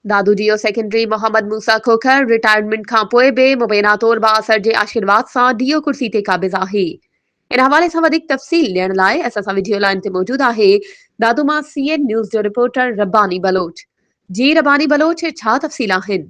دادو جيو secretary Muhammad Musa Khokhar retirement کانپوء به مبينا طور بااثر جي آشيرواد سان ڊيو ڪرسي تي قابض آهي ان حوالي سان وڌيڪ تفصيل ڏيڻ لاء اسان سان وڊيو لائين تي موجود آهي دادو مان سي اين نيوز جو رپورٽر رباني بلوچ جي رباني بلوچ ڇا تفصيل آهن.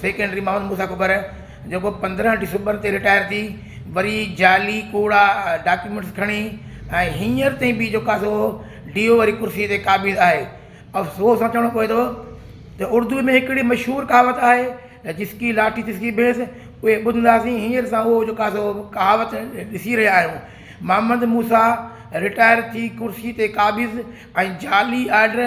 سيڪريٽري محمد موسيٰ ڪڪر جيڪو پندرهن ڊسمبر تي رٽائر ٿي وري جعلي ڪوڙا ڊاڪيومينٽس کڻي ۽ هينئر تائين بي جو ڪاسو ڊي او واري ڪرسي تي قابض آهي افسوس سان چوڻو پوي ٿو ته اردو ۾ هڪڙي مشهور ڪهاوت آهي ته جس ڪي لاٺي تس ڪي ڀينس اهي ٻڌنداسين هينئر اسان اهو جو ڪاسو ڪهاوت ڏسي رهيا آهيون محمد موسيٰ رٽائر ٿي ڪرسي تي قابض ۽ جعلي آرڊر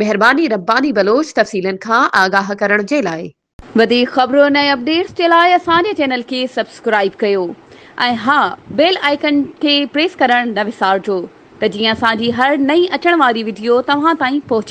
مهرباني رباني بلوچ تفصيلن کان آگاهه ڪرڻ جي لاء. وڌيڪ خبرن ۽ اپڊيٽس جي لاء اسان جي چينل کي سبسڪرائيب ڪيو ۽ ها بيل آئيڪن کي پريس ڪرڻ نه وسارجو ته جيئن اسان جي هر نئين اچڻ واري وڊيو توهان تائين پهچي